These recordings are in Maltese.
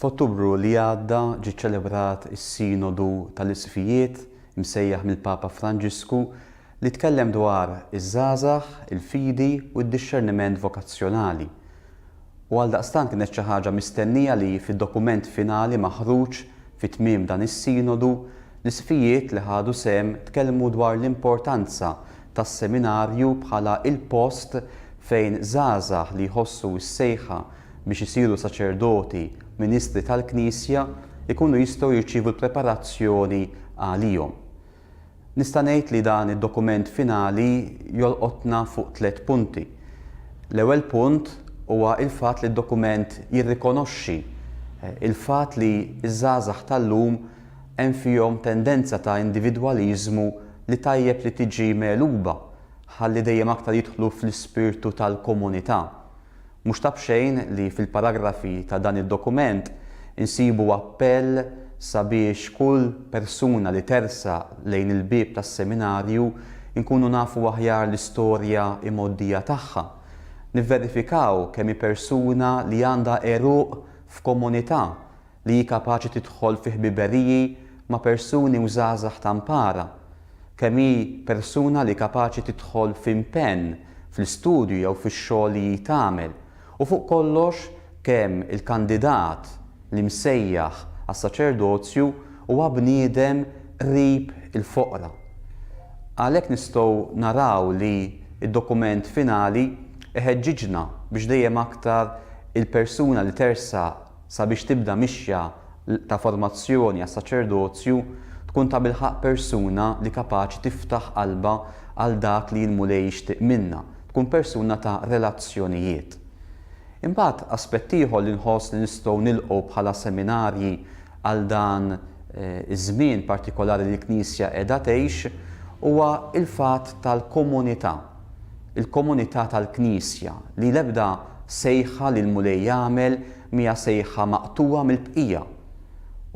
F'Ottubru li għadda ġie ċċelebrat is-Sinodu tal-Isqfijiet msejjaħ mill-Papa Franġisku li tkellem dwar iż-żgħażagħ, il-fidi u d-dixxerniment vokazzjonali. U għaldaqstant kienet xi ħaġa mistennija li fid-dokument finali maħruġ fi tmiem dan is-Sinodu, l-Isqfijiet li ħadu sehem tkellmu dwar l-importanza tas-seminarju bħala il-post fejn żgħażagħ li jħossu s-sejħa biex isiru saċerdoti ministri tal-Knisja jkunu jistgħu jirċievu l-preparazzjoni għalihom. Nista' ngħid li dan id-dokument finali jolqotna fuq tliet punti. L-ewwel punt huwa l-fatt li d-dokument jirrikonoxxi l-fatt li ż-żgħażagħ tal-lum hemm fihom tendenza ta' individwaliżmu li tajjeb li tiġi megħluba ħalli dejjem aktar jidħlu fl-ispirtu tal-komunità. Mhux ta' b'xejn li fil-paragrafi ta' dan id-dokument insibu appell sabiex kull persuna li tersaq lejn il-bieb tas-Seminarju nkunu nafu aħjar l-istorja imgħoddija tagħha, nivverifikaw kemm hi persuna li għandha għeruq f'komunità li hi kapaċi tidħol fi ħbiberiji ma' persuni u żgħażagħ ta' mpara, kemm hi persuna li kapaċi tidħol fi mpenn fl-istudju jew fix-xogħol li hi tagħmel, u fuq kollox kemm il-kandidat li msejjaħ għas-saċerdozju huwa bniedem qrib il-foqra. Għalhekk nistgħu naraw li d-dokument finali iħeġġiġna biex dejjem aktar il-persuna li tersaq sabiex tibda mixja ta' formazzjoni għas-saċerdozju, tkun tabilħaqq persuna li kapaċi tiftaħ qalbha għal dak li l-Mulej jixtieq minna, tkun persuna ta' relazzjonijiet. Imbagħad, aspett ieħor li nħoss li nistgħu nilqgħu bħala seminarji għal dan iż-żmien partikolari li l-Knisja qiegħda tgħix huwa l-fatt tal-komunità. il-komunità tal-Knisja, li l-ebda sejħa li l-Mulej jagħmel mhija sejħa maqtugħa mill-bqija.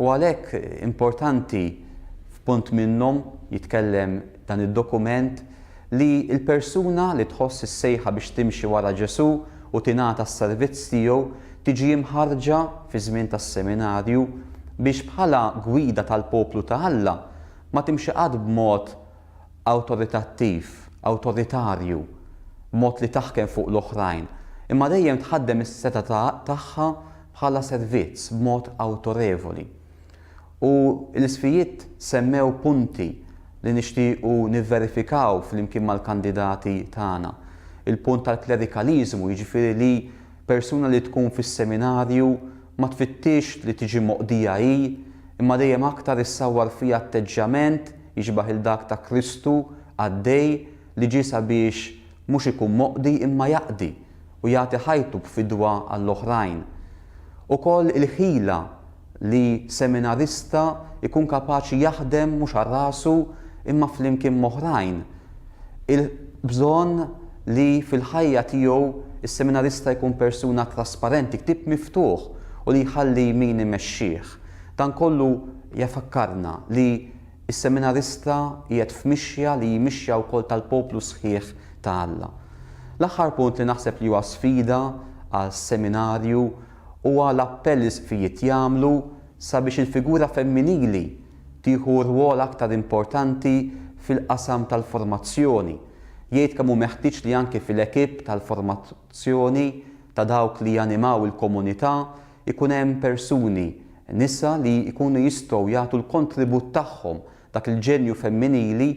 U għalhekk importanti f'punt minnhom jitkellem dan id-dokument li l-persuna li tħoss is-sejħa biex timxi wara Ġesù u tingħata s-servizz tiegħu tiġi mħarrġa fiż-żmien tas-seminarju biex bħala gwida tal-poplu ta' Alla ma timxi qatt b'mod awtoritattiv, awtoritarju, mod li taħkem fuq l-oħrajn, imma dejjem tħaddem is-setgħa ta' tagħha bħala servizz b'mod awtorevoli. U l-isfijiet semmew punti li nixtiequ nivverifikaw flimkien mal-kandidati tagħna. Il-punt tal-klerikaliżmu, jiġifieri li persuna li tkun fis-seminarju ma tfittixx li tiġi moqdija hi, imma dejjem aktar issawwar fiha atteġġjament Jixbah 'il dak ta' Kristu qaddej li ġie sabiex mhux ikun moqdi imma jaqdi u jagħti ħajtu b'fidwa għall-oħrajn. Ukoll il-ħila li seminarista jkun kapaċi jaħdem mhux għal rasu imma flimkien m'oħrajn. Il-bżonn li fil-ħajja tiegħu s-seminarista jkun persuna trasparenti, ktieb miftuħ u li jħalli min imexxih. Dan kollu jafakkarna li. Is-seminarista qiegħed f'mixja li hi mixja wkoll tal-poplu sħiħ ta' Alla. L-aħħar punt li naħseb li huwa sfida għal seminarju huwa l-appell li l-Isqfijiet jagħmlu sabiex il-figura femminili tieħu rwol aktar importanti fil-qasam tal-formazzjoni, jgħid kemm hu meħtieġ li anki fil-ekipp tal-formazzjoni ta' dawk li janimaw il-komunità Ikun hemm persuni, nisa li jkunu jistgħu jagħtu l-kontribut tagħhom, dak il-ġenju femminili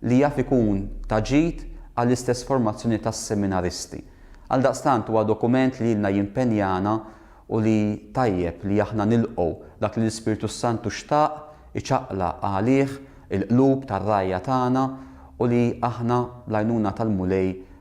li jaf ikun ta' ġid għall-istess formazzjoni tas-seminaristi. Għaldaqstant huwa dokument li ilna jimpenjana u li tajjeb li aħna nilqgħu dak li l-Ispirtu s-Santu xtaq iċaqlaq għalih il-qlub tar-rgħajja tagħna u li aħna bl-għajnuna tal-Mulej